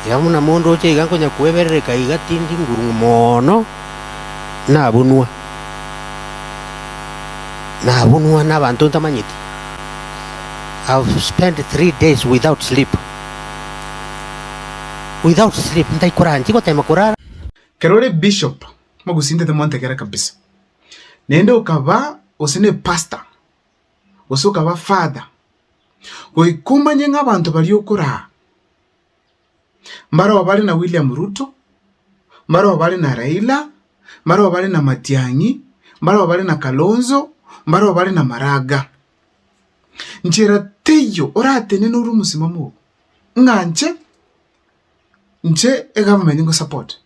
Iga buna monto oche iga nkonya kweberereka iga tindi ngurung'u mono, nabunwa, nabunwa n'abanto ntamanyeti. I have spent three days without sleep. Without sleep, ntari korara, ntari gotema korara. Kero ore bishop mogusintete mwantegera kabisa, naende okaba gose ne pastor gose okaba father, goika omanye ng'a abanto baria okoraa mbareo bare na William Ruto, mbareo bare na Raila, mbareo bare na Matiang'i, mbareo bare na Kalonzo, mbareo bare na Maraga. Nchera teiyo oratenene ore omosimamo oo, ng'a inche, inche egovernment nkosupport,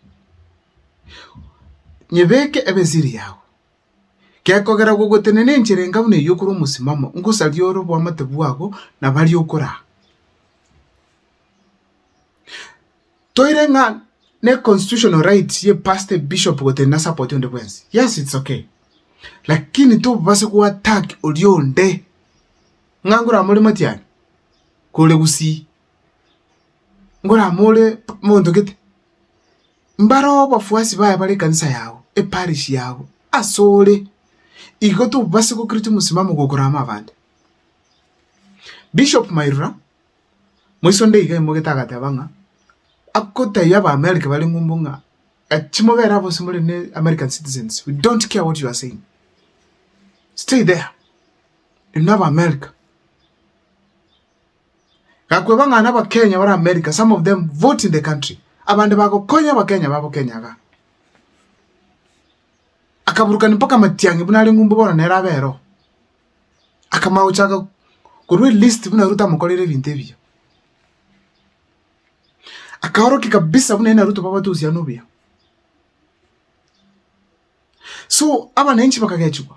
nyebeke ebe esiri yago. Gekogera gogotenena enchera enga buna eyio okore omosimamo, ngosaria ore oboamate bwabo na baria okoraa. Toire ng'a ne constitutional right ye pastor, bishop gotenena support onde bwensi. Yes, it's okay. Lakini tobase go attack oria onde ng'a ngoramore matiari, kore gusii, ngoramore monto gete. Mbareo abafuasi baye bare ekanisa yao, eparishi yao, asore. Igo tobase gokiriti omosimamo gokora amo abande. Bishop Mairora, moiso onde iga aimoogete agateba ng'a, agotebia abaamerika bare ng'umbu ng'a, achi mobere abwo ase more ne American citizens, we don't care what you are saying. Stay there. Inwe abaamerika. Gakweba ng'a n'Abakenya bare America, some of them vote in the country, abande bagokonya Abakenya babo Kenya iga. Akaburukania mpaka Matiang'i buna are ng'umbu bono nere abe ero. Akamanya gochaka korwa elist buna Ruto amokoreire ebinto ebiya. Akaorokia kabisa buna aye na Ruto babe abatusiana obuya. So abananchi bakagechigwa.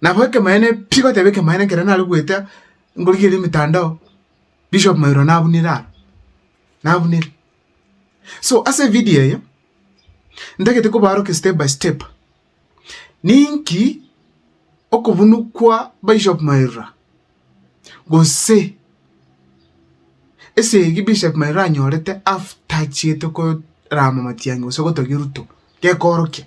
Nabo ekemanyererio pi tigoteba ekemanyererio ekero nare goeta nkorigereria emetandao, Bishop Mairwa nabunire aro, nabunire. So ase evidio eye, ntagete kobarokia step by step, ninki okobunu kwa Bishop Mairwa, gose esegi Bishop Mairwa anyorete after achiete korama matiang'i gose gotogia eruto, gekoorokia.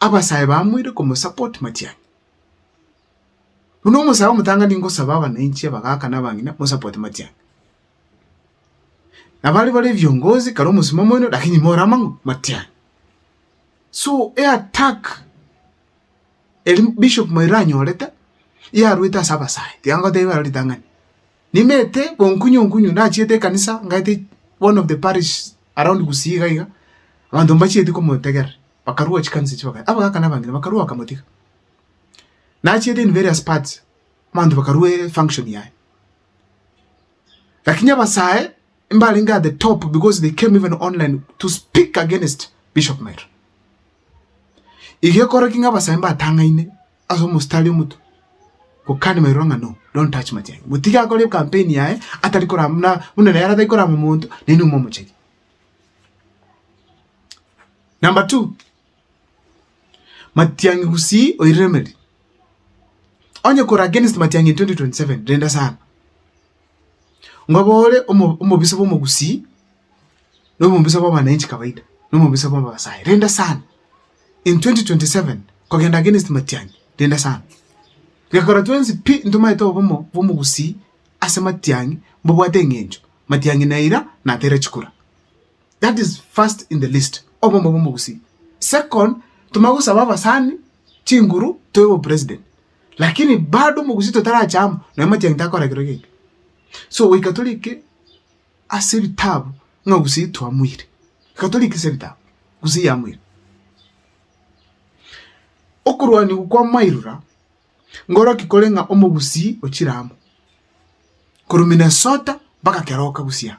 abasae bamoire komosupport matianyi. Buna omosae omotang'ani ngosaba abananchi abagaka na abang'ina mosupport matianyi. Na baria bare viongozi kare omosibwa moino lakini more amang'u matianyi. So eattack eri Bishop Maina anyorete yarwete ase abasae tiga ngoteba ero ritang'ani. Nimete bonkunyu nkunyu nachiete ekanisa ngaete one of the parish around Gusii iga iga, abanto mbachieti komotegerera, bakarua chikanisa echio bakae abagaka na abang'ina bakarua bakamotiga. Nachiete in various parts, abanto bakarua efunction yaye. Lakini abasae mbarenge at the top because they came even online to speak against Bishop Mairo. Igo ekorokire ng'a abasae mbatang'aine ase omositari omoto, gokani mairo ng'a no, don't touch Matiang'i. Motige akore campaign yaye atari kora buna buna nere atari korama monto, naye nomo omochegi. Number two, Matiang'i gusii oiremeri, onye kore against Matiang'i in 2027, renda sana. Nkoba ore omobisa bw'omogusii, na omobisa bw'abananchi kawaida, na omobisa bw'Abasae, renda sana. In 2027 nkogenda against Matiang'i, renda sana. Gekogera twensi pi ntomanye tobe obomo bw'omogusii ase Matiang'i mbobwate eng'encho, Matiang'i na eira natere chikura. That is first in the list, obomo bw'omogusii. Second, ntomanye gosaba abasani chinguru tobe bo president. Lakini bado omogusi totarache amo, na amatiang'i takora kero gento. So goika torike ase ebitabu ng'a gusii eye twamoire, goika torike ase ebitabu gusii eye yamoire. Okorwaniwa kwa mairora ngoroki kore ng'a omogusii ochire amo korwa Minnesota mpaka keroka gusii aa.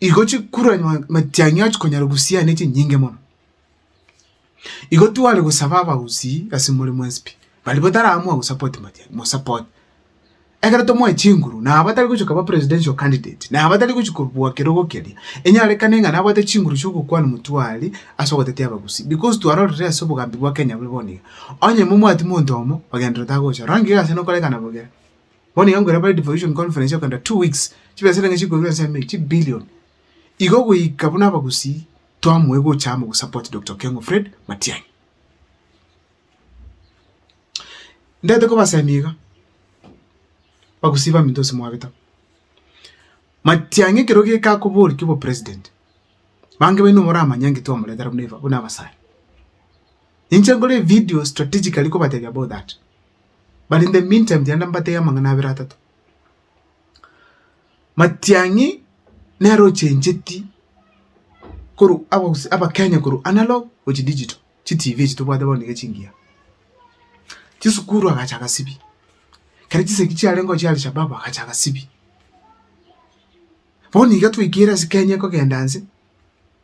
igo chikuranwa matiang'i ao chikonyara gosiana echinyinge mono. Igo tware gosaba abagusii ase more mwensipi, baria bataramua gosapoti matiang'i mosapote. Ekero tomoe chinguru na abatari gochia koba presidential candidate, na abatari gochia kobua kerogo keria, enyarekane ng'a nabwate chinguru chia ogokwana motwe aria ase ogotetia abagusii because twarorire ase obogambi bwa Kenya bore bono iga. Onye momwati monto omo, ogenderera otagocha, rora ng'iya ase nokorekana bogima. Bono nigo nkoiraneria bare devolution conference ya kogenda two weeks, chibesa chiria nigo chikorwa ense ime chibillion. Igo goika buna abagusii twamoe gocha amo gosupport Doctor Okengo Fred Matiang'i. Ndagete kobasemia iga, bagusii baminto gose mwabeta, Matiang'i ekero geka akoboria obo president, bange baino moramanya ng'a twamoretera buna aba buna abasani. Inche nkore evidio strategically kobatebia about that. But in the mean time tiga nambatebie amang'ana abere atato. Matiang'i nere ochencheti korwa abagusii abakenya korwa analog gochia digital, chitv echi tobwate bono niga chingiya. Chisukuru agacha agasibia, kera chisegi chiarengeo chia Alshababu agacha agasibia. Bono iga twaikire ase Kenya ekogenda nse,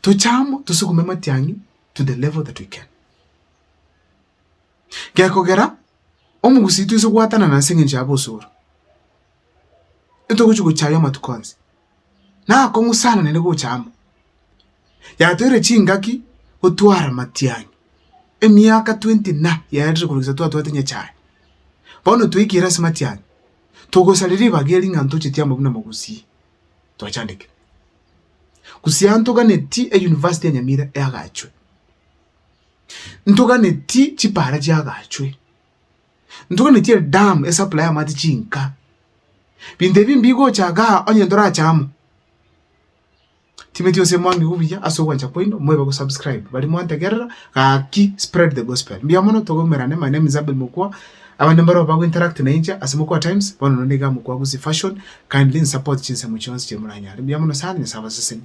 toche amo tosugume amatiang'i to the level that we can. Gekogera omogusii twise goatanana ase eng'encho ya bosoro, ntogochi gochaya amatuko onsi, na akong'u sana naende gocha amo. Yatoire chingaki gotwara amatiang'i, emiaka twenty na yaerire korwa gose twatwate nyachae. Bono twaikire ase amatiang'i, togosarire ribaga erio ng'a ntocheti amo buna mogusii. twachandekire. Gusii ntoganeti e university ya Nyamira eagachwe, ntoganeti chipara chiagachwe, ntoganeti e dam e supply amache chinka, binto ebi mbigocha igaa onye ntorache amo. Timeti gose mwange buya ase ogwancha kwaino moibe go subscribe baria mwantegerera gaki spread the gospel. Mbuya mono togomerane mane emizabibu mokwa. Abande mbarabwo bago interact na inche ase Mokoa Times, bono nonde iga Mokoa Gusii Fashion, kindly nsupport chinsemo chionsi chiri moranyare. Mbuya mono sana, Nyasae abasesenie.